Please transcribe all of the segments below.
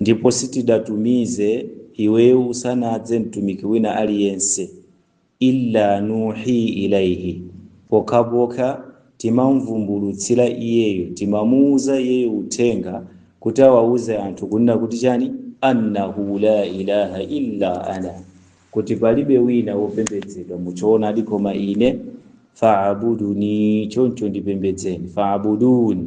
Ndipo sitidatumize iweyo usanadze mtumiki wina aliyense illa nuhi ilaihi pokhapokha timamvumbulutsira iyeyo timamuuza iyeyo uthenga kuti awauze anthu kunena kuti chani annahu la ilaha illa ana kuti palibe wina wopembedzedwa muchoonadi koma ine faabuduni choncho ndipembedzeni faabuduni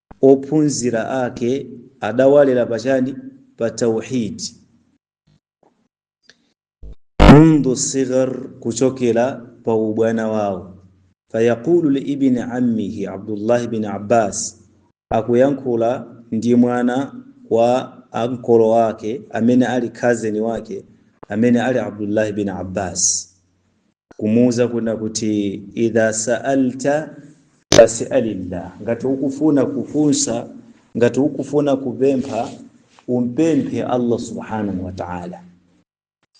ophunzira ake adawalera pa chani pa tauhid mundhu sighar kuchokera pa ubwana wawo fayaqulu liibni ammihi abdullahi bin abbas akuyankhula ndi mwana wa ankolo ake amene ali cousin wake amene ali abdullahi bin abbas kumuuza kuna kuti idha sa'alta fas'alillah, ngati ukufuna kufunsa, ngati ukufuna kupempha, umpemphe Allah subhanahu wa ta'ala.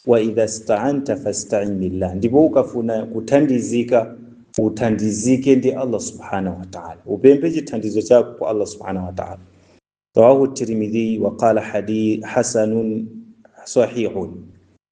Wa idha sta'anta fasta'in billah, ndipo ukafuna kuthandizika uthandizike ndi Allah subhanahu wa ta'ala, upemphe chithandizo chako kwa Allah subhanahu wa ta'ala. Rawahu Tirmidhi wa qala hadith hasanun sahihun.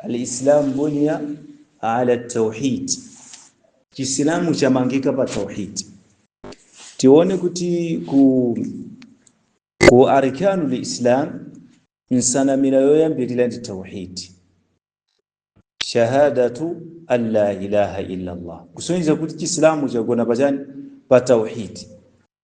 Al-Islam buniya ala tauhid, Chisilamu chamangika pa tauhid. Tione kuti ku arkanu lislam nsanamira yoyambirira ndi tauhid, shahadatu an la ilaha illa Allah, kusonyeza kuti Chisilamu chagona pachani pa tauhid.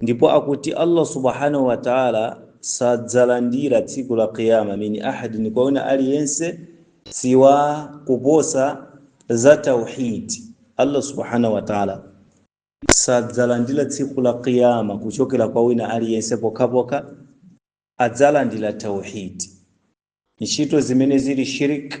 ndipo akuti allah subhanahu wa taala sadzalandira tsiku la qiyama min ahadin kwa wina aliyense siwa kuposa za tauhid allah subhanahu wa taala sadzalandira tsiku la qiyama kuchokera kwa wina aliyense pokhapokha adzalandira tauhid ntchito zimene zili shirk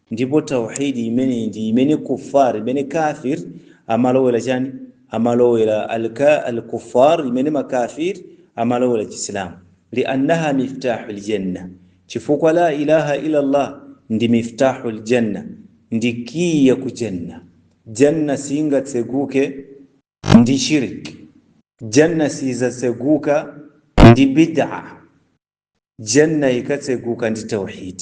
Ndipo Tauheed imeneyi ndi imene kuffar, imene kaafir amalowera chani? Amalowera al-kuffar, imene makaafir amalowera Chisilamu. Li'annaha miftahul jannah, chifukwa laa ilaaha illa Allah ndi miftahul jannah, ndi key ya ku Jannah. Jannah siingatseguke ndi shirk, Jannah siidzatseguka ndi bid'ah, Jannah ikatseguka ndi Tauheed.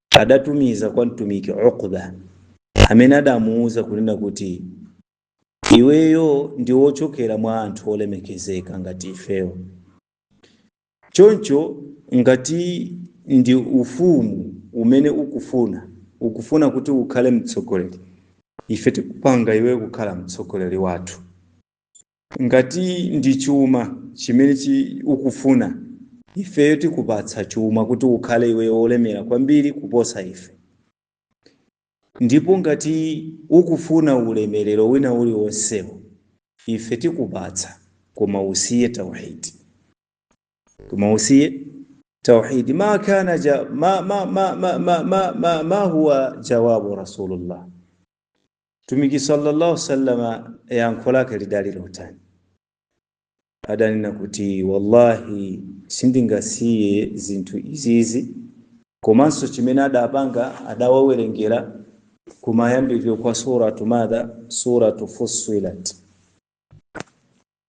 adatumiza kwa Mtumiki Uqba amene adamuuza kunena kuti iweyo ndi wochokera mwa anthu olemekezeka ngati ifewo, choncho ngati ndi ufumu umene ukufuna ukufuna kuti ukhale mtsogoleri, ife tikupanga iwe kukhala mtsogoleri wathu. Ngati ndi chuma chimene ukufuna, ifeyo tikupatsa chuma kuti ukhale iweyo wolemera kwambiri kuposa ife. Ndipo ngati ukufuna ulemerero wina uliwonsewo, ife tikupatsa, koma usiye tauhid. Koma usiye tauhid. Ma kana, ma huwa jawabu Rasulullah. Mtumiki sallallahu sallama yankho lake lidali lotani? Adanena kuti wallahi, sindingasiye zinthu izizi komanso chimene adapanga adawawerengera kumayambiriro kwa suratu madha suratu fussilat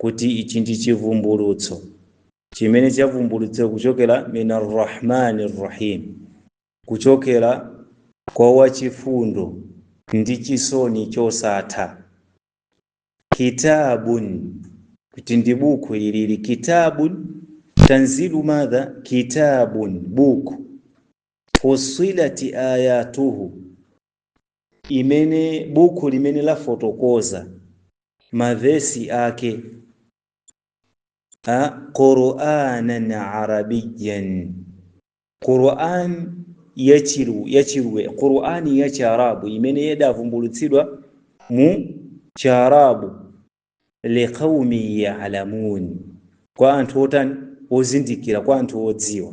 kuti ichi ndi chivumbulutso chimene chavumbulutsidwa kuchokera min arrahmani rrahim kuchokera kwa wachifundo ndi chisoni chosatha kitabun kuti ndi buku ilili kitabun tanzilu madha kitabun buku fussilat ayatuhu imene bukhu limene lafotokoza mavesi ake a quranan arabiyan quran yachiru- yachirwe qurani ya chiarabu imene idavumbulutsidwa mu chiarabu liqaumi yalamun kwa anthu otani ozindikira kwa anthu odziwa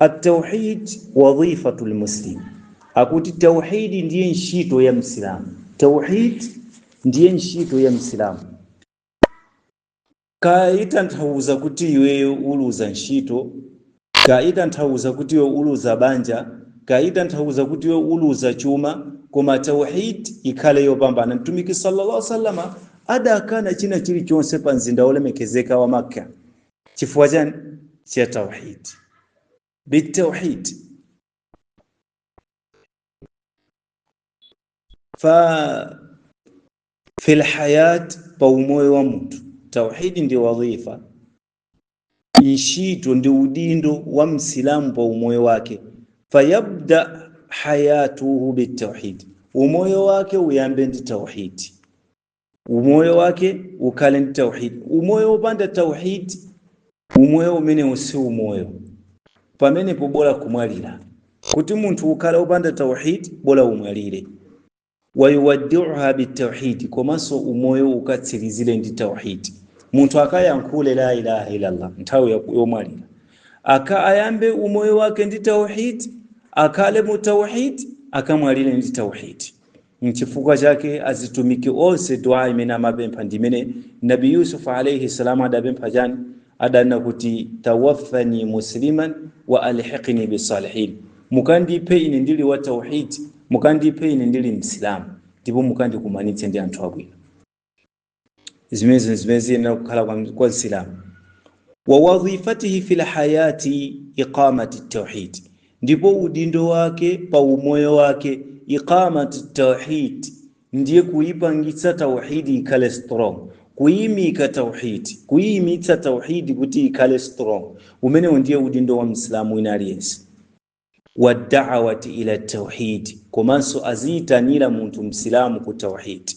At-tauhid wadhifatul muslim, akuti tauhidi ndiye ntchito ya Msilamu. Tauhid ndiye ntchito ya Msilamu. Kaya itanthauza kuti iwe uluza ntchito, kaya itanthauza kuti iwe uluza banja, kaya itanthauza kuti iwe uluza chuma, koma tauhid ikhale yopambana. Mtumiki sallallahu alaihi wasallam adakana china chilichonse pa mzinda wolemekezeka wa Makka. chifukwa chani cha tauhid bitauhid fa fil hayat pa umoyo wa munthu tauhidi ndi wadhifa ntchito ndi udindo wa msilamu pa umoyo wake fayabda hayatuhu bitauhid umoyo wake uyambe ndi tauhidi umoyo wake ukhale ndi tauhid umoyo wopanda tauhid umoyo umenewu si umoyo pamenepo bola kumwalira kuti munthu ukhale wopanda tauhid bola umwalire wayuwaddiuha bitauhidi komanso umoyo ukatsirizire ndi tauhidi munthu akayankhule la ilaha illallah nthawi ya- yomwalira aka ayambe umoyo wake ndi tauhidi akhale mu tauhidi akamwalire ndi tauhidi Nchifukwa chake azitumiki onse dua imene amapempha ndi imene Nabi Yusuf alayhi salam adapempha chani adanena kuti tawaffani musliman wa alhiqni bisalihin mukandiphe ine ndili wa tauhid mukandiphe ine ndili msilamu ndipo mukandikumanitse ndi anthu abwino zimenezo zimene ziyenera kukhala kwa msilamu wa wadhifatuhu fil hayati iqamati tauhid ndipo udindo wake pa umoyo wake iqamati tauhid ndiye kuipangitsa tauhidi ikhale strong kuimika tauhidi kuimitsa tauhidi kuti ikhale strong umenewo ndiye udindo wa msilamu wina aliyense wadawati ila tauhidi komanso aziyitanira munthu msilamu ku tauhidi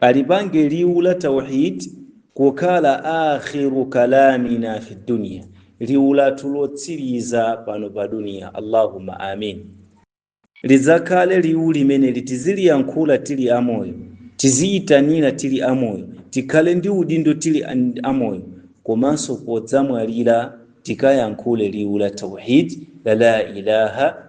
Alipange liwu la Tauhid kukhala aakhiru kalaamina fi dunya, liwu lathu lotsiriza pano pa duniya. Allahumma amin. Lidzakhale liwu limeneli tiziliyankhula tili amoyo, tiziyitanira tili amoyo, tikhale ndi udindo tili amoyo, komanso podzamwalira tikayankhule liwu la Tauhid la la ilaha